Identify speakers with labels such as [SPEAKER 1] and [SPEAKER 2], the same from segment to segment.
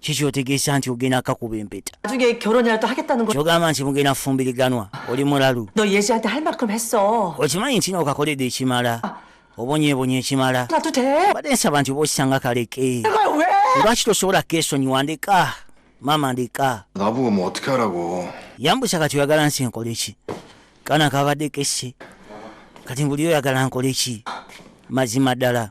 [SPEAKER 1] kiki otegeesa nti ogenda akakuba empeta
[SPEAKER 2] kyogamba nti mugenda
[SPEAKER 1] fumbiriganwa oli mulalu
[SPEAKER 2] okimanyi nti nookakoledde
[SPEAKER 1] ekimala ah. obonyebonye ekimala badde nsaba
[SPEAKER 2] nti oba okisanga
[SPEAKER 1] kaleke lwaki
[SPEAKER 2] tosobola
[SPEAKER 1] keesonyiwa ndeka maama ndeka
[SPEAKER 3] yambusa kati oyagala
[SPEAKER 1] nsi enkoleki kana kabadde kesse kati mbuli oyagala nkoleki mazima ddala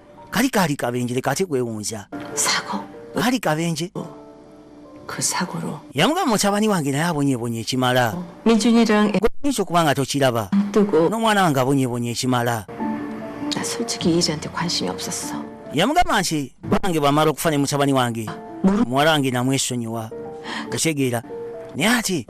[SPEAKER 1] kali kaali kabenje leka ate kwewunza sako
[SPEAKER 2] kaali kabenje
[SPEAKER 1] oh.
[SPEAKER 2] kusakulu yamugamba mutabani wange
[SPEAKER 1] naye abonyebonye ekimala
[SPEAKER 2] ekyo kuba nga tokiraba
[SPEAKER 1] n'omwana wange
[SPEAKER 2] abonyebonye
[SPEAKER 1] ekimala
[SPEAKER 2] yamugamba nti
[SPEAKER 1] bange bamala okufa ne mutabani wange muwala wange namwesonyiwa otegeera naye ati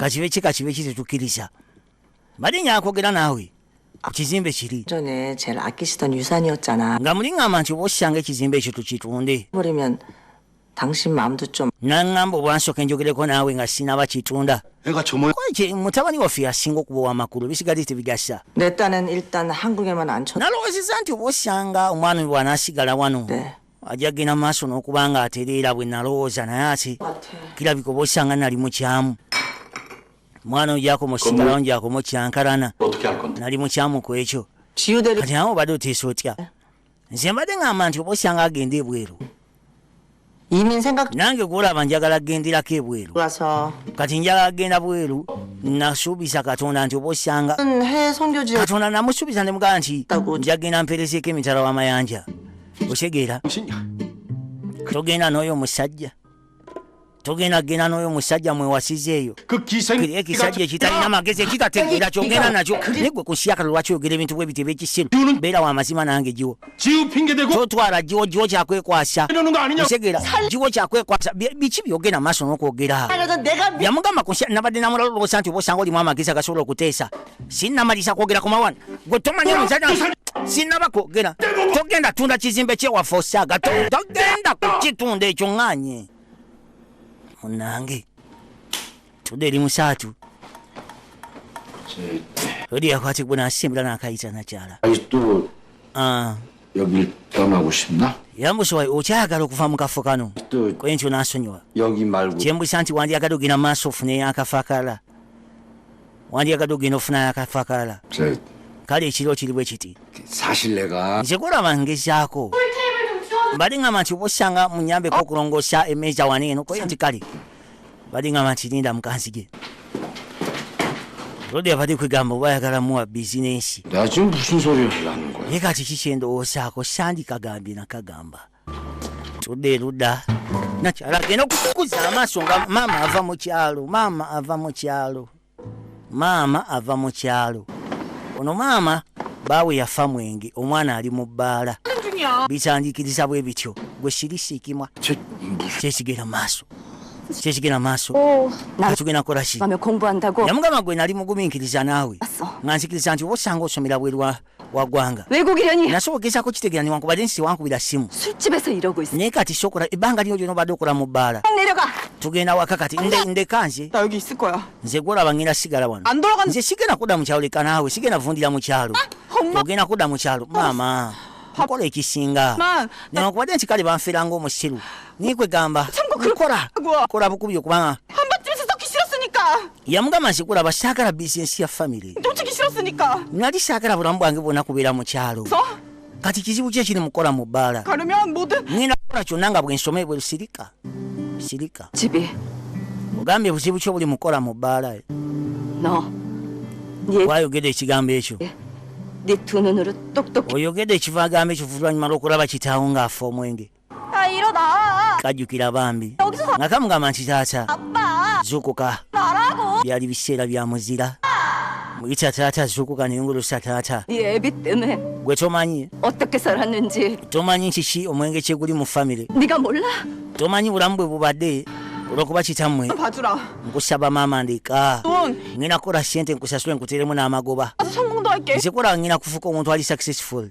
[SPEAKER 1] kakibe ki
[SPEAKER 2] kakibe ki
[SPEAKER 1] tetukkiriza mbadde nyakwogera naawe ku kizimbe kiri
[SPEAKER 2] nga muli ŋŋamba nti oba
[SPEAKER 1] osanga ekizimbe ekyo tukitunde
[SPEAKER 2] naŋŋamba obwansooka
[SPEAKER 1] enjogereko naawe nga sinaba kitunda
[SPEAKER 4] mutabani waffe
[SPEAKER 1] yasinga okuba owamakulu bisigadde tebigasa
[SPEAKER 2] nalowoozeza nti oba
[SPEAKER 1] osanga omwami bw'anaasigala wano ajja kugenda
[SPEAKER 2] maaso
[SPEAKER 1] n'okuba nga atereera bwe nalowooza naye ate kirabika oba osanga nali mukyamu mwana ojakoma osigalawo njakoma okyankarana nali
[SPEAKER 4] mukyamu ku ekyo
[SPEAKER 1] kati nawe obadde
[SPEAKER 2] oteesa
[SPEAKER 1] otya nze mbadde ngamba nti oba osanga agenda ebweru
[SPEAKER 2] nange gwolaba njagala
[SPEAKER 1] kugenderako ebweru kati
[SPEAKER 2] njagala kugenda
[SPEAKER 1] bweru nasuubiza katonda nti oba osanga
[SPEAKER 2] katonda namusuubiza
[SPEAKER 1] nemugamba nti njagenda mperezeeko emitala w'amayanja okitegeera togenda n'oyo omusajja togenda genda n'oyo omusajja mwewasiza eyo
[SPEAKER 4] ekisajja ekitalina
[SPEAKER 1] magezi ekitategeera kyogenda nakyo naye gwe kusyakala lwaki oyogera ebintu bwe bityo ebyekisiru beera wa mazima nange giwo
[SPEAKER 4] totwala giwo giwo
[SPEAKER 1] kyakwekwasa otegeera
[SPEAKER 4] giwo
[SPEAKER 1] kyakwekwasa biki byogenda maaso n'okwogera yamugamba
[SPEAKER 2] nabadde
[SPEAKER 1] namulala olwosa nti oba osanga olimu amagezi agasobola okuteesa sinnamalisa kwogera ku mawana gwe tomanya omusajja sinaba kwogera togenda tunda kizimbe kyewaffe osaaga togenda kukitunda ekyo ŋŋanye munange tudde eri musaatu odi yakwati gwe nasimbula nakayita nakyala ah.
[SPEAKER 5] yambusowa okyayagala
[SPEAKER 1] okuva mu kafo kano kwe nti onasonyiwa kyembusa
[SPEAKER 5] nti wandyagadde
[SPEAKER 1] ogenda maaso ofune yakafo akalala wandyagadde okugenda okufunayo akafo akalala kale
[SPEAKER 5] ekiro kiri
[SPEAKER 1] bwe kiti
[SPEAKER 5] nze kulaba ngezaako
[SPEAKER 1] bali ngamba nti obosanga munyambeko okulongoosa emeeza wano eno koye nti kale bali ngamba nti linda mukanzige lodi abadde kwegamba oba ayagala muwa bizinensi
[SPEAKER 5] ye kati
[SPEAKER 1] kikyendowoosaako sandikagambye nakagamba tudde eruda nakyala agenda okukuza amaaso nga maama ava mu kyalo maama ava mu kyalo maama ava mu kyalo ono maama baawe yafa mwenge omwana ali mu bbaala bitandikiriza bwe bityo gwe sirisiikimwa kyesigera
[SPEAKER 5] maaso
[SPEAKER 1] kyekigenda maaso oh, tugenda
[SPEAKER 6] kolaki
[SPEAKER 1] yamugamba
[SPEAKER 6] gwe nali
[SPEAKER 1] mugumiikiriza naawe nga nzikiriza nti
[SPEAKER 6] oba osanga
[SPEAKER 1] osomera bwerwa wagwanga nasobola okugeza
[SPEAKER 6] kukitegera
[SPEAKER 1] newankubadde nti tewankubira simu
[SPEAKER 6] naye kati sokola
[SPEAKER 1] ebbanga
[SPEAKER 6] lino
[SPEAKER 1] lyona obadde okola mu bbaala tugenda
[SPEAKER 6] waka kati
[SPEAKER 1] ndeka nze nze
[SPEAKER 2] gwolaba ngenda sigala
[SPEAKER 1] wano nze sigenda kudda
[SPEAKER 2] mu kyalo leka
[SPEAKER 1] naawe sigenda vundira mu kyalo ah, ogenda kudda mu kyalo maama nkola ekisinga newankubadde
[SPEAKER 2] nti kale
[SPEAKER 1] banfera ngaomusiru naye kwegamba nkola kola bukubi okubanga
[SPEAKER 2] yamugamba nti kulaba
[SPEAKER 1] saagala bizinesi ya famiry
[SPEAKER 2] nali saagala bulamu
[SPEAKER 1] bwange bwona kubeera mu kyalo kati
[SPEAKER 2] kizibu ki
[SPEAKER 1] ekiri mukukola mu bbaala ngenda
[SPEAKER 2] kukola kyonna nga
[SPEAKER 1] bwensoma ebweru sirika sirika
[SPEAKER 6] ogambye
[SPEAKER 1] buzibu ki obuli mukukola mu bbaala
[SPEAKER 6] wayogedde ekigambo
[SPEAKER 1] ekyo
[SPEAKER 6] eh, oyogedde ekiva agamba
[SPEAKER 1] ekyo vulwanyuma lwokulaba kitaawo ng'afa omwenge
[SPEAKER 6] kajjukira bambi
[SPEAKER 1] nga kamugamba nti
[SPEAKER 6] taata
[SPEAKER 1] zukuka byali
[SPEAKER 6] biseera bya
[SPEAKER 1] muzira muyita taata zukuka nengulusa taata
[SPEAKER 6] gwe tomanyi tomanyi kiki
[SPEAKER 1] omwenge kyeguli mu famire
[SPEAKER 6] tomanyi bulamu bwe
[SPEAKER 1] bubadde olwokuba kitammwe nkusaba
[SPEAKER 2] maama
[SPEAKER 1] ndeka ngina kukola
[SPEAKER 2] sente
[SPEAKER 1] nkusasule nkuteremu n'amagoba
[SPEAKER 2] nzikola ngina kufuuka
[SPEAKER 1] omuntu ali successful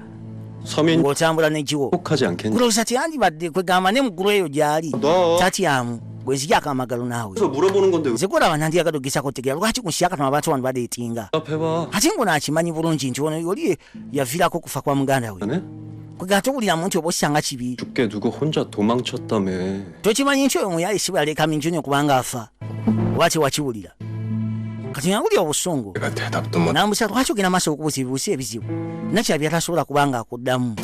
[SPEAKER 7] ng'otambula nekiwo
[SPEAKER 1] kulowooza
[SPEAKER 7] teyandibadde
[SPEAKER 1] kwegamba ne mugulu eyo gyali tatyamu gwezijako amagalo naawe nze
[SPEAKER 7] gwolaba nandiyagadde
[SPEAKER 1] ogesako otegera lwaki kunsiyakatama abantu bano badeetinga ate ngo
[SPEAKER 7] nakimanyi
[SPEAKER 1] bulungi nti ono yoli yavirako okufa kwa muganda we kwegamba
[SPEAKER 7] towuliramu
[SPEAKER 1] nti oba osanga kibi
[SPEAKER 7] tokimanyi nti oyo
[SPEAKER 1] muyaye sibaleka minju nyo kubanga afa oba tewakiwulira kati nawulira obusungu
[SPEAKER 3] nambusa lwaki ogenda maaso
[SPEAKER 1] okubuuza ebibuusa ebizibu nakira byatasobola kubanga akuddamu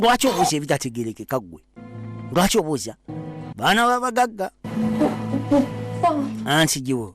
[SPEAKER 1] lwaki obuuza ebitategerekeka ggwe lwaki obuuza baana babagagga anti giwo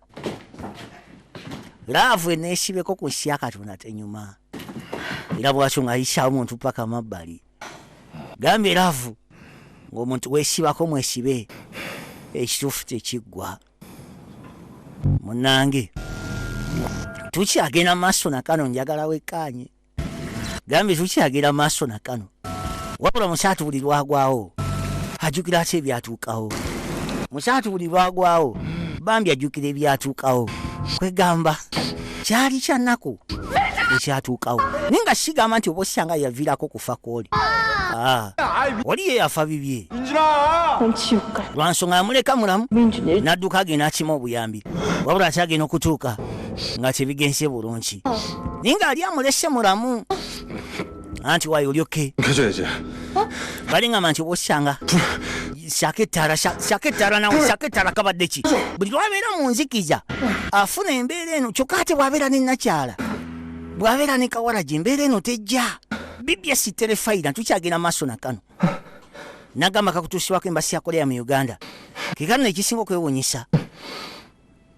[SPEAKER 1] laavu eneesibeko ku nsi ya katonda tenyuma era bwakyo nga yisaawo omuntu paka mabbali gambye laavu ng'omuntu weesibako mwesibe ekituufu tekiggwa munange tukyagenda maaso nakano njagala wekkaanye Gambi tukyagira maaso na kano wabula musaatu buli lwagwawo ajukira ate ebyatuukawo musaatu buli lwagwawo bambi ajukira ebyatuukawo kwegamba kyali kyanaku ekyatuukawo naye nga sigamba nti oba osanga yaviirako kufa kwoli ah, oli ye yafa bibye
[SPEAKER 8] lwansonga yamuleka mulamu
[SPEAKER 1] nadduka agenda
[SPEAKER 8] akima
[SPEAKER 1] obuyambi wabula ate agenda okutuuka nga tebigenze bulungi naye nga ali amulese mulamu anti wayo olyoke
[SPEAKER 3] balingamba
[SPEAKER 1] nti obosanga shaka ettala shaka ettala nawe shaka ettala kabadde ki buli lwabeera mu nzikiza afuna embeera eno kyokka ate bwabeera ne nakyala bwabeera ne kawalagi embeera eno tejja bibya siterefayira tukyagenda maaso na kano nagamba kakutuusibwako embasi yakoleya mu uganda kekano nekisinga okwewunyisa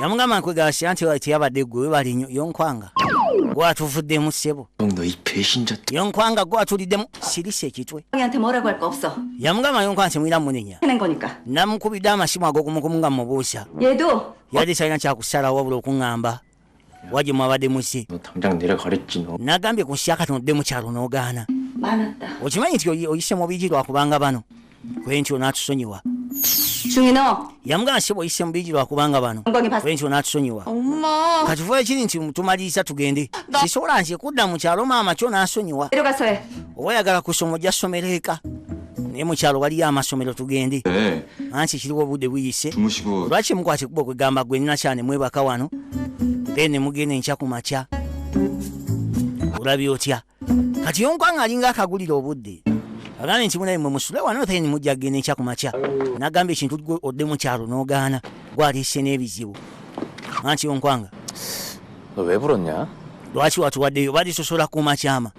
[SPEAKER 6] yamugamba nkwegasya nti
[SPEAKER 1] teyabadde gwe webali nyo yonkwanga gwatuvuddemu ssebo
[SPEAKER 9] yonkwanga gwatuliddemu
[SPEAKER 1] sirisa ekitwe
[SPEAKER 6] yamugamba yonkwanga nti mwira
[SPEAKER 1] munenya
[SPEAKER 6] namukubidde amasimu
[SPEAKER 1] agokumukumu nga mubuusa yali
[SPEAKER 6] talina kyakusalawo
[SPEAKER 1] wabula okuŋŋamba waje mwabadde musi
[SPEAKER 9] nagambye ku nsi yakati odde
[SPEAKER 1] mukyalo n'ogaana okimanyi
[SPEAKER 6] nti oyise
[SPEAKER 1] mu bigi lwakubanga bano kwenti onatusonyiwa
[SPEAKER 6] yamugamba si bwoyise mu
[SPEAKER 1] bigi lwakubanga bano kwenti onatusonyiwa katufuba
[SPEAKER 2] ekiri nti
[SPEAKER 1] tumaliriza tugende sisobola nti ekudda mu kyalo maama kyo nasonyiwa oba
[SPEAKER 6] oyagala kusoma
[SPEAKER 1] ojja somero eka naye mukyalo waliyo amasomero tugende eh. ansi kiriwo obudde buyise lwaki mukwata
[SPEAKER 9] ekuba okwegamba
[SPEAKER 1] gwe nina kyane mwebaka wano then nemugenda enkya ku makya olabye otya kati yonkwanga alinga akagulira obudde agambye nti munaye mwe musule wano then mujja kugenda enkya ku makya nagamba ekintu gwe odde mukyalo nogaana gwaliise n'ebizibu anti yonkwanga
[SPEAKER 5] lwaki watuwaddeyo
[SPEAKER 1] balisosola ku makyama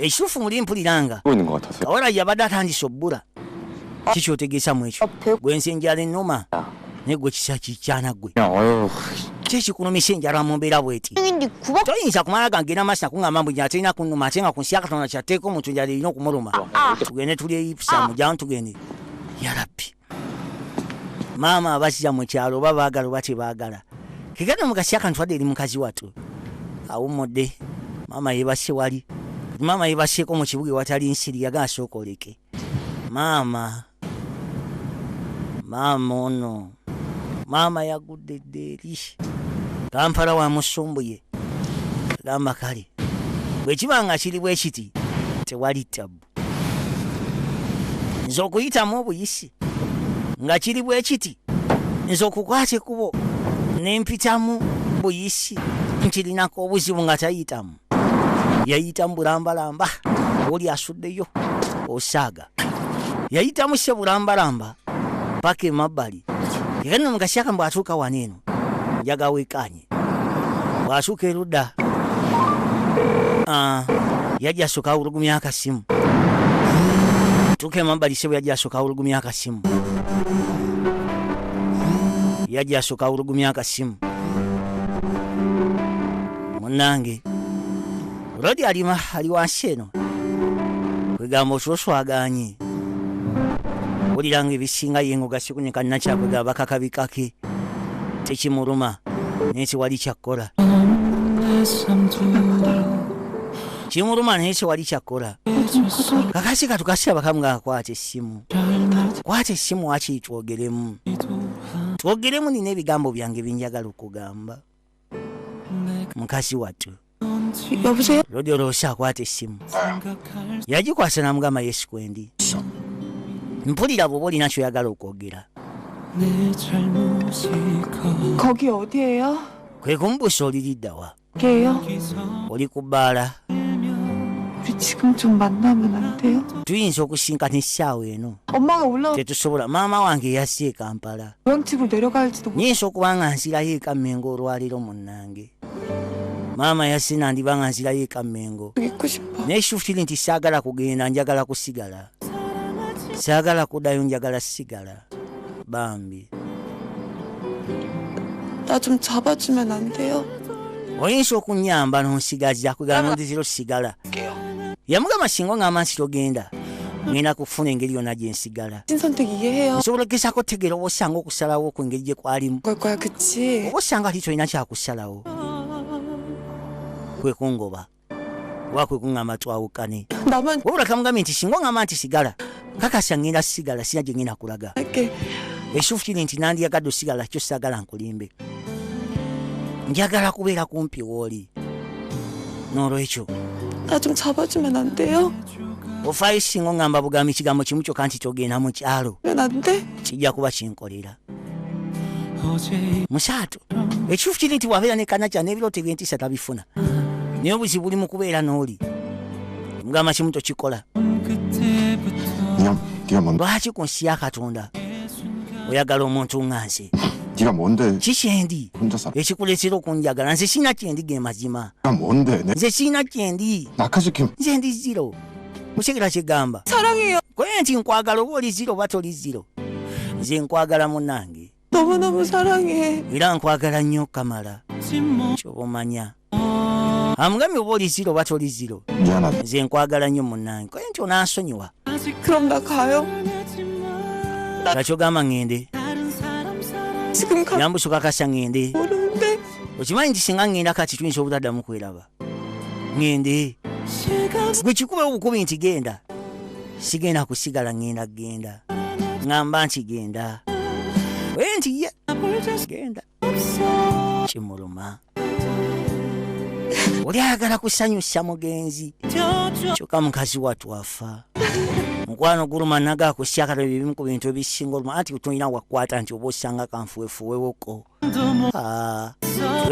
[SPEAKER 7] ekituufu muli
[SPEAKER 1] mpulira nga kawala
[SPEAKER 7] yabadde atandise
[SPEAKER 1] obbula kikyotegeesa mu ekyo gwensi enjala ennuma naye gwe kisa kikyana gwe
[SPEAKER 5] kyekikulumisa
[SPEAKER 1] enjala mu mbeera bweti toyinza kumala gangenda masi nakuŋamba mbu njala terina kunuma ate nga ku nsi ya katonda kyatteeka omuntu njala erina okumuluma ah, ah. tugende tuli eyipusa mujamu tugende yarabbi maama abazza mu kyalo oba baagala oba tebaagala kegana mugasi akantu adde eri mukazi watu awummudde maama yebasse wali maama yebasseeko mu kibuga ewatali nsiri yagala sooka oleke maama maama ono maama yagudde dde eri kampala wa musumbuye gamba kale bwekiba nga kiri bwe kiti tewali tabbu nze okuyitamu obuyisi nga kiri bwe kiti nze okukwata ekkubo ne mpitamu buyisi nkirinako obuzibu nga tayitamu yayitamu bulambalamba oli asuddeyo osaaga yayitamu se bulambalamba paka emabbali ekanyuma mu kasyaka mbu atuuka wano eno njagawekaanye bw'asuka erudda ah, yajja asooka awulugumya akasimu tuuka emabbali sebo yajja asooka awulugumya akasimu yajja asooka awulugumya akasimu munnange Rodi alima ali wansi eno kwegamba oswoswaganye wulira nga ebisinga ye ngaogasikunyika nakyakwegamba bakakabikake tekimuluma naye tewali kyakkola kimuluma naye tewali kyakkola kakasi katukasira bakamu nga akwata essimu kwata essimu wakiri twogeremu twogeremu nina ebigambo byange binjagala okugamba mukazi wattu
[SPEAKER 2] lodoloosa
[SPEAKER 1] akwata essimu yagikwasa namugamba yesu kwendi mpulira bwoba olina kyoyagala okwogera
[SPEAKER 2] kwe kumubuusa
[SPEAKER 1] oliriddawa
[SPEAKER 2] oli ku
[SPEAKER 1] bbaala
[SPEAKER 2] tuyinza okusinkana
[SPEAKER 1] essaawa eno tetusobola
[SPEAKER 2] maama wange
[SPEAKER 1] yasi e kampala
[SPEAKER 2] nyinza okuba nga
[SPEAKER 1] nsirayo eka mengo olwaliro munange maama yasina ndiba nga nsirayo eka mengo naye
[SPEAKER 2] shufiri nti saagala
[SPEAKER 1] kugenda njagala kusigala saagala kudayo njagala sigala bambi
[SPEAKER 2] oyinza
[SPEAKER 1] okunyamba nonsigaza kugamba ndizira osigala yamugamba singa ngamba nsi togenda ngenda kufuna engeri yona gyensigala
[SPEAKER 2] nsobola okugezaako otegeera
[SPEAKER 1] oba osanga okusalawo ku ngeri gye kwalimu oba
[SPEAKER 2] osanga ti tolina
[SPEAKER 1] kyakusalawo kwekungoba oba kwekuŋŋamba twawukane wabula kamugambye
[SPEAKER 2] nti singa
[SPEAKER 1] oŋŋamba nti sigala kakasa ŋŋenda sigala sina gye ŋŋenda kulaga
[SPEAKER 2] esufu kiri
[SPEAKER 1] nti nandiyagadde osigala kyo sagala nkulimbe njagala kubeera kumpi wooli n'olwekyo najum
[SPEAKER 2] cabajumen an deyo ofaayo singa
[SPEAKER 1] oŋamba bugambi kigambo kimu kyokka nti togenda mu kyalo
[SPEAKER 2] kijja kuba kinkolera
[SPEAKER 1] musaatu ekituufu kiri nti wabeera ne kanakya n'ebirooto ebyentiisa tabifuna naye obuzibu buli mu kubeera n'oli mugamba kimu tokikola
[SPEAKER 3] lwaki ku nsi ya katonda
[SPEAKER 1] oyagala omuntu nga nze kiki
[SPEAKER 3] kyendi
[SPEAKER 1] ekikuleetera
[SPEAKER 3] okunjagala
[SPEAKER 1] nze sirina kyendi ge mazima nze
[SPEAKER 3] sirina kyendi
[SPEAKER 1] nze ndi
[SPEAKER 3] ziro
[SPEAKER 1] mukigira kigamba koye nti
[SPEAKER 2] nkwagala
[SPEAKER 1] oba oli ziro oba toli ziro nze nkwagala munange
[SPEAKER 2] era nkwagala nnyo
[SPEAKER 1] kamala kyoba omanya amugambye oba oli ziro oba toli ziro nze nkwagala
[SPEAKER 3] nnyo
[SPEAKER 1] munange koye nti onansonyiwa
[SPEAKER 2] gakyogamba
[SPEAKER 1] ŋŋende
[SPEAKER 2] yambusuka kasa ŋŋende okimanyi nti singa
[SPEAKER 1] ŋŋenda kati tuyinza obutaddamu kweraba ŋŋende gwe kikuba obukubi nti genda sigenda kusigala ŋŋenda genda ŋŋamba nti genda oye nti ye genda kimuluma oli ayagala kusanyusa mugenzi kyoka mukazi watu afa mukwano guluma naga akusyakala ebimu ku bintu ebisinga oluma anti tulina wakwata nti oba osanga kanfuwefuwewoko ah,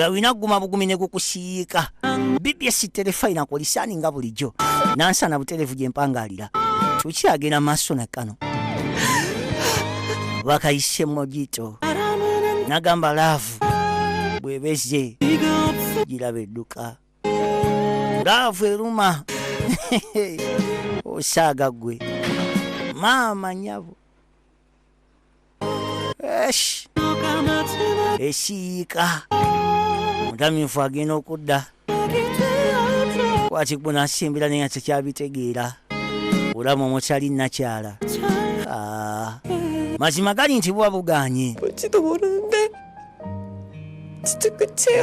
[SPEAKER 1] olina kuguma bugumi ne gukusiyiika bbs terefayina kulisani nga bulijjo nansana buterevu gyempangaalira bw'oyagala tukyagenda maaso na kano bakayise mojito nagamba laavu bwebeze giraba edduka laavu eruma osaaga gwe maama nyabo Esh. esiyiika mutamiifu agenda okudda kwati gwe nasimbira naye tekyabitegeera olamu omukyali nakyala ah. mazima gali nti buba buganye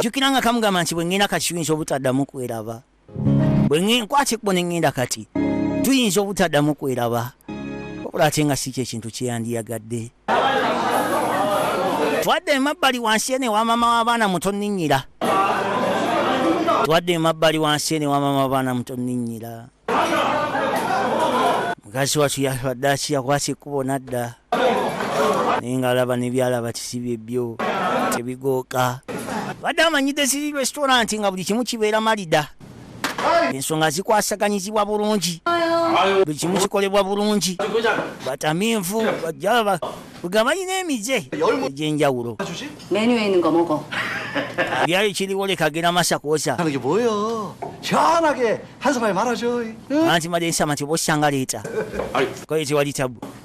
[SPEAKER 2] jukira nga kamugamba nti
[SPEAKER 1] bwe ngenda kakiyinza obutaddamu kweraba bwe nkwata ekkubo ne ŋŋenda kati tuyinza obutaddamu kweraba wabula ate nga si kyekintu kyeyandiyagadde twadde emabbali wansi ene wa maama w'abaana mutonninnyira twadde emabbali wansi ene wa maama w'abaana mutonninnyira mukazi watu yabadde akiyakwasa ekkubo nadda naye nga alaba nebyalaba kisibye byo tebigooka badde amanyidde siri restaurant nga buli kimu kibeera malida ensonga zikwasaganyizibwa bulungi buli kimu kikolebwa bulungi batamiivu bajaba nga balina emize egyenjawulo
[SPEAKER 6] byali
[SPEAKER 1] kiriwo lekagera masakosa
[SPEAKER 9] anti made nsama
[SPEAKER 1] tibosanga leeta koye tewali tabu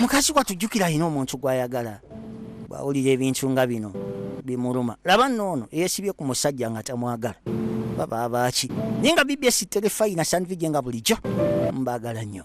[SPEAKER 1] mukazi wattu jjukira alina omuntu gw'ayagala bw'awulira ebintu nga bino bimuluma laba noono eyeesibye ku musajja nga tamwagala baba abaaki naye nga bbs terefayina sandvige nga bulijjo mbaagala nnyo